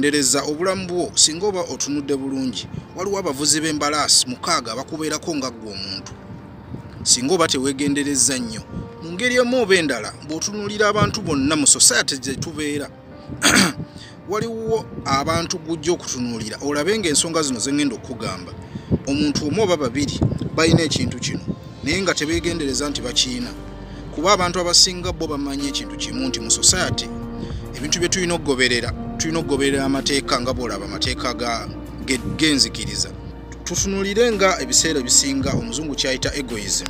Ndereza obulamu bwo singa oba otunudde bulungi waliwo abavuzi b'embalaasi mukaaga abakubeerako nga ggwe omuntu singa oba teweegenderezza nnyo mu ngeri emu oba endala bw'otunuulira abantu bonna mu sosayate gye tubeera waliwo abantu gujja okutunuulira olabe ng'ensonga zino ze ŋŋenda okukugamba omuntu omu oba babiri balina ekintu kino naye nga tebeegendereza nti bakiina kuba abantu abasinga bo bamanyi ekintu kimu nti mu society ebintu bye tulina okugoberera tulina okugoberera amateeka nga bwolaba amateeka genzikiriza tutunulire nga ebiseera ebisinga omuzungu kyayita egoism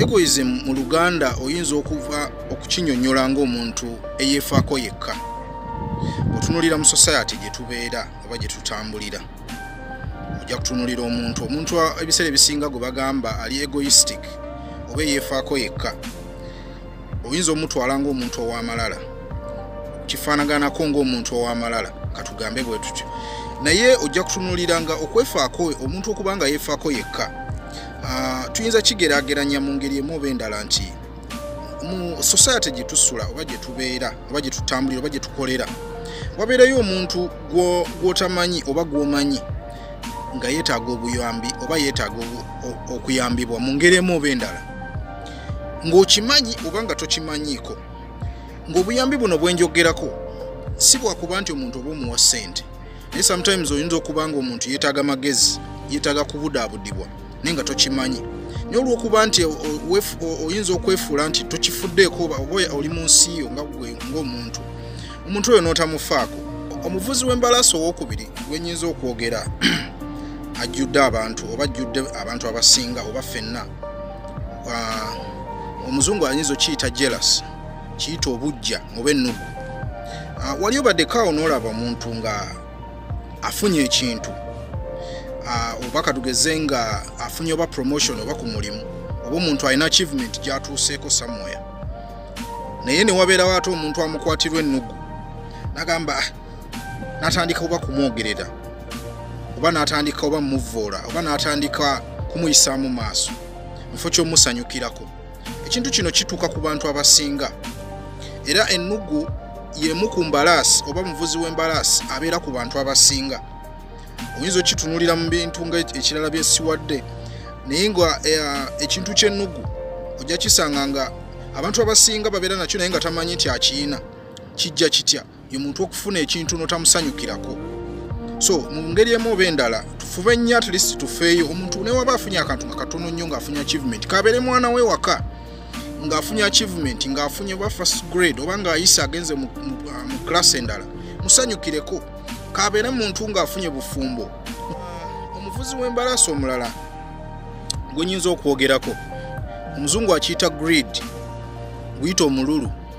egoism mu luganda oyinza okuva okukinyonyola ngaomuntu eyefaako yekka otunulira mu society gye tubeera oba gye tutambulira ojja kutunulira omuntu omuntu ebiseera ebisinga gwe bagamba ali egoistic oba eyeefaako yekka oyinza omutwala ngaomuntu ow'amalala kifaanaganako ngaomuntu ow'amalala katugambe bwe tutyo naye ojja kutunulira nga okwefaako omuntu okuba nga yeefaako yekka ah, tuyinza kigeraageranya mu ngeri emu oba endala nti mu society gye tusula oba gye tubeera oba gye tutambulira oba gye tukolera wabeerayo omuntu gw'otamanyi oba gw'omanyi nga yeetaaga obuyambi oba yeetaaga okuyambibwa mu ngeri emu oba endala ng'okimanyi oba nga tokimanyiiko ng'obuyambi buno bwenjogerako si bwakuba nti omuntu oba omuwa ssente naye sometimes oyinza okuba nga omuntu yetaaga magezi yetaaga kubudaabudibwa naye nga tokimanyi naye olwokuba nti oyinza okwefuula nti tokifuddeeko oba oli mu nsi yo nga gwe ngaomuntu omuntu oyo n'otamufaako omuvuzi w'embalaasi owokubiri gwenyinza okwogera ajjudde abantu oba ajjudde abantu abasinga oba fenna ah, omuzungu ayinza okiyita jealous kiyita obujja oba ennugu ah, wali obaddekaawo n'olaba omuntu nga afunye ekintu ah, oba katugeze nga afunye oba promotion oba ku mulimu oba omuntu alina achievement gyatuuseeko samoya naye newabeerawo ate omuntu amukwatirwa ennugu nagamba ah, natandika oba kumwogerera oba natandika oba muvvoola oba natandika kumuyisaamu maaso mufo kyomusanyukirako ekintu kino kituuka ku bantu abasinga era ennugu yemu ku mbalaasi oba muvuzi w'embalaasi abeera ku bantu abasinga oyinza okitunulira mu bintu nga ekirala byesiwadde naye nga eh, ekintu kyennugu ojja kisanga nga abantu abasinga babeera nakyo naye nga tamanyi nti akiyina kijja kitya ye muntu okufuna ekintu notamusanyukirako so mu ngeri emu oba endala tufube nnyo at least tufeeyo omuntu newaba afunye akantu nga katono nnyo ng'afunye achievement kabeere mwana we waka ng'afunye achievement ng'afunye oba first grade oba ng'ayise agenze mu class endala musanyukireko kabeere muntu ng'afunye bufumbo omuvuzi w'embalaasi omulala gwe nyinza okwogerako omuzungu akiyita greed guyita omululu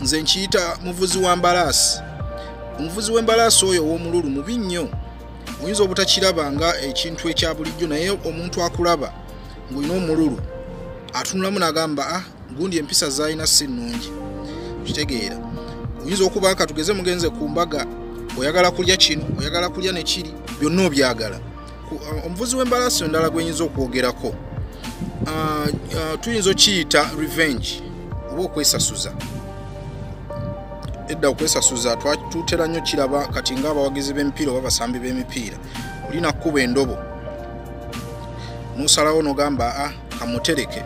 nze nkiyita muvuzi wa mbalaasi omuvuzi w'embalaasi oyo ow'omululu mubi nnyo oyinza obutakiraba nga ekintu ekya bulijjo naye omuntu akulaba ng'olina omululu atunulamu n'agamba a ah, gundi empisa zaalina si nnungi kitegeera oyinza okuba nga tugeze mugenze ku mbaga oyagala kulya kino oyagala kulya ne kiri byonna obyagala omuvuzi w'embalaasi endala gwenyinza okwogerako ah, ah, tuyinza okiyita revenge oba okwesasuza edda okwesasuza twatutera nnyo kiraba kati ngaabawagizi b'emipiira oba basambi b'emipiira olina kukuba endobo nosalawo nogamba a ah, kamutereke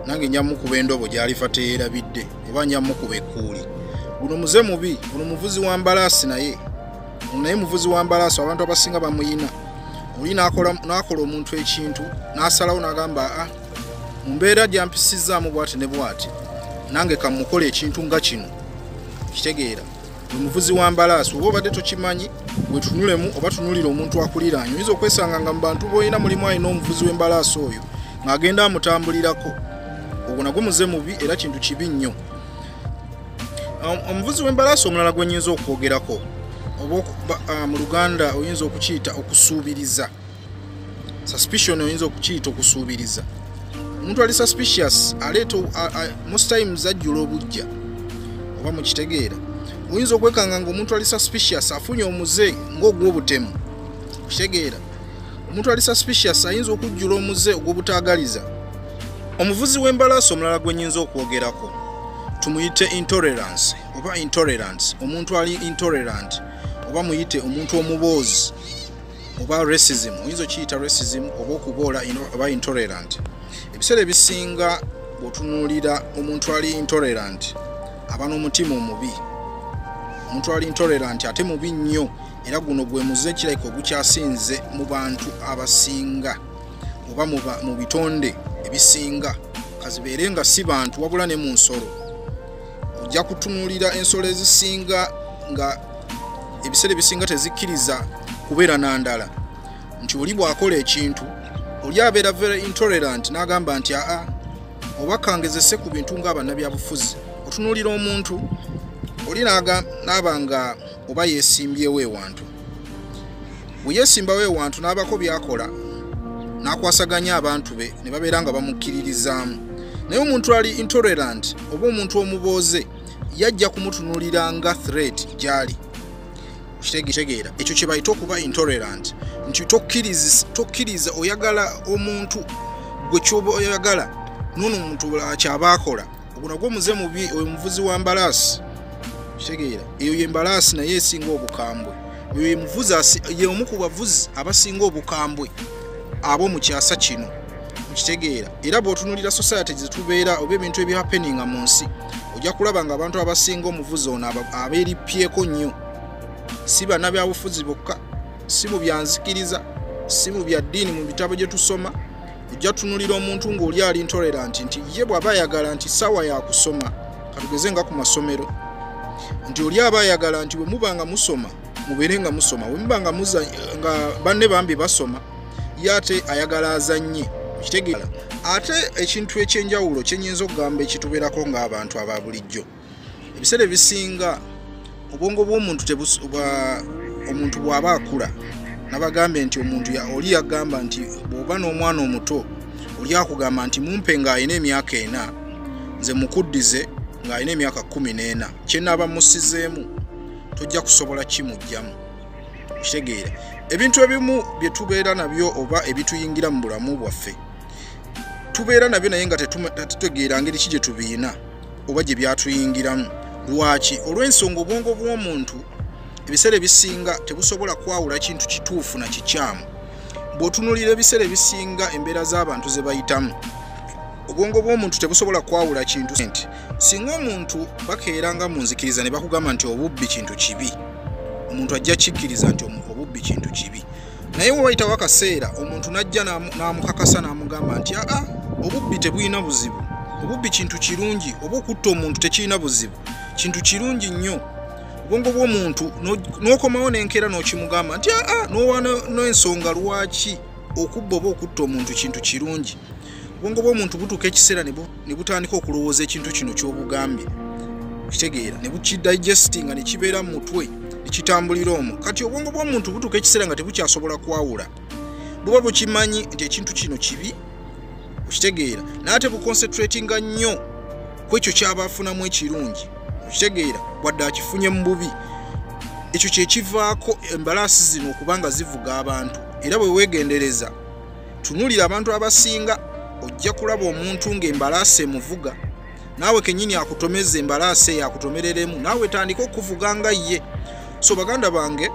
nange njamukuba endobo gyalifa teyerabidde oba njamukuba ekkuuli guno muze mubi guno muvuzi wa mbalaasi naye naye muvuzi wa mbalaaso abantu abasinga bamuyina oli nakola omuntu ekintu nasalawo nagamba a ah, mumbeera gyampisizaamu bwati ne bwati nange kamukola ekintu nga kino kitegeera omuvuzi wa mbalaaso oba obadde tokimanyi wetunulemu oba tunulira omuntu akuliraanyi oyinza okwesanga nga mubantu boolina mulimu alina omuvuzi w'embalaaso oyo ng'agenda amutambulirako ogwo nagwo muze mubi era kintu kibi nnyo omuvuzi w'embalaasi omulala gwe nyinza okwogerako oba ah, mu luganda oyinza okukiyita okusuubiriza suspicion oyinza okukiyita okusuubiriza omuntu ali suspicious aleeta most times ajjula obujja oba mukitegeera oyinza okwekanga ngaomuntu ali suspicious afunye omuze ngaogwobutemu okitegeera omuntu ali suspicious ayinza okujjula omuze ogw'obutaagaliza omuvuzi w'embalaasi omulala gwe nyinza okwogerako tumuyite intolerance oba intolerance omuntu ali intolerant oba muyite omuntu omuboozi oba racism oyinza okiyita racism oba okuboola oba intolerant ebiseera ebisinga bwotunuulira omuntu ali intolerant aba n'omutima omubi omuntu ali intolerant ate mubi nnyo era guno gwe muze kirabika ogukyasinze mu bantu abasinga oba mu bitonde ebisinga kazibeere nga si bantu wabula ne mu nsolo ojja kutunuulira ensolo ezisinga nga ebiseera ebisinga tezikkiriza kubeera na ndala nti oli bw'akola ekintu oli abeera very intolerant n'agamba nti aa oba kangezese ku bintu ng'abannabyabufuzi otunuulira omuntu oli n'aba nga oba yesimbyewo ewantu bwe yesimbawo ewantu n'abako byakola n'akwasaganya abantu be ne babeera nga bamukkiririzaamu naye omuntu ali intolerant oba omuntu omubooze yajja kumutunulira nga threat gyali kitegeera ekyo kye bayita okuba intolerant nti tokkiriza oyagala omuntu gwe kyoba oyagala nono omuntu kyaba akola ogwo nagwo muze mubi oyo muvuzi wa mbalaasi kitegeera eyo ye mbalaasi naye esinga obukambwe oyo yemuvuzi ye omu ku bavuzi abasinga obukambwe abo mu kyasa kino okitegeera era bwotunulira society zetubeera oba ebintu ebihappeninga mu nsi ojja kulaba nga abantu abasinga omuvuzi ono abeerippyeko nnyo si bana byabufuzi bokka si mu byanzikiriza si mu bya ddiini mu bitabo gye tusoma ojja tunulira omuntu ng'oli ali ntoleranti nti ye bw'aba ayagala nti saawa yakusoma katugeze nga ku masomero nti oli aba ayagala nti bwe muba nga musoma mubeere nga musoma bwe muba nga nga banne bambi basoma ye ate ayagala azannye okitegeera ate ekintu ekyenjawulo kyenyinza okugamba ekitubeerako ng'abantu aba bulijjo ebiseera ebisinga obwongo bw'omuntu omuntu bw'aba akula nabagambye nti omuntu oli yagamba nti bw'oba n'omwana omuto oli akugamba nti mumpe ng'alina emyaka ena nze mukuddize ng'alina emyaka kumi n'ena kyenaaba musizeemu tojja kusobola kimugjamu okitegeera ebintu ebimu bye tubeera nabyo oba ebituyingira mu bulamu bwaffe tubeera nabyo naye nga tetutegeera ngeri ki gye tubiina oba gye byatuyingiramu lwaki olw'ensonga obwongo bw'omuntu ebiseera ebisinga tebusobola kwawula kintu kituufu na kikyamu bw'otunulira ebiseera ebisinga embeera z'abantu ze bayitamu obwongo bw'omuntu tebusobola kwawula kintu nti singa omuntu bakeera nga mu nzikiriza ne bakugamba nti obubbi kintu kibi omuntu ajja kikkiriza nti obubbi kintu kibi naye wewayitawo akaseera omuntu najja namukakasa namugamba nti aa obubbi tebulina buzibu obubbi kintu kirungi oba okutta omuntu tekirina buzibu kintu kirungi nnyo obwongo bwomuntu nokomawo nenkera nokimugamba nti aa nowa nensonga lwaki okubba oba okutta omuntu kintu kirungi obwongo bw'omuntu butuuka ekiseera ne butandika okulowooza ekintu kino ky'obugambye okitegeera ne bukidigestinga ne kibeera mu mutwe ne kitambulira omwo kati obwongo bw'omuntu butuuka ekiseera nga tebukyasobola kwawula buba bukimanyi nti ekintu kino kibi okitegeera naye tebukonsetratinga nnyo ku ekyo kyaba afunamu ekirungi okitegeera wadde akifunye mu bubi ekyo kyekivaako embalaasi zino okuba nga zivuga abantu era bwe weegendereza tunulira abantu abasinga ojja kulaba omuntu ng'embalaasi emuvuga naawe kenyini akutomeza embalaasi eyo akutomereremu naawe tandika okuvuga nga ye so baganda bange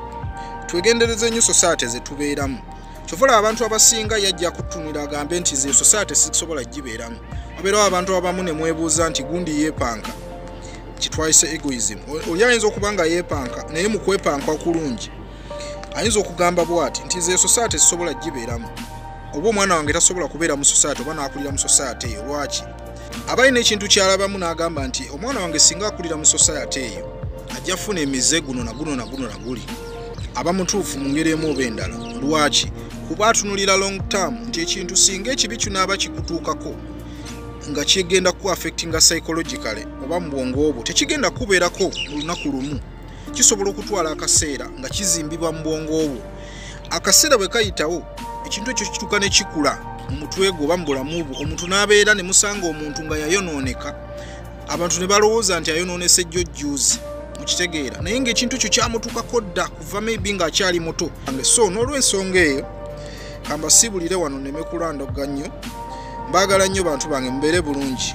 twegendereze nnyo sosaate zetubeeramu kyovola abantu abasinga yajja kutunira agambe nti ze sosaate sisobola gibeeramu wabeerawo abantu abamu ne mwebuuza nti gundi yeepanka kitwayise egoism oli ayinza okuba nga yeepanka naye mu kwepanka okulungi ayinza okugamba bwati nti nze esosaate sisobola gibeeramu oba omwana wange tasobola kubeera mu sosaate oba n'akulira mu sosaate eyo lwaki abalina ekintu kyalabamu n'agamba nti omwana wange singa akulira mu sosaate eyo ajja kufuna emize guno na guno na guno na guli aba mutuufu mu ngeri emu oba endala lwaki kuba atunulira long term nti ekintu singa ekibi kinaaba kikutuukako nga kigenda ku affectinga psychologically oba mu bwongo obwo tekigenda kubeerako mu lunaku lumu kisobola okutwala akaseera nga kizimbibwa mu bwongo obwo akaseera bwe kayitawo ekintu ekyo kituuka ne kikula mu mutwe gwo oba mu bulamu bwo omuntu n'abeera ne musanga omuntu nga yayonooneka abantu ne balowooza nti ayonoonese jjo jjuuzi mukitegeera naye ng'ekintu ekyo kyamutuukako dda kuva maybe ng'akyali muto so n'olwensonga eyo kambasiibulire wano neme kulandoga nnyo mbaagala nnyo bantu bange mubeere bulungi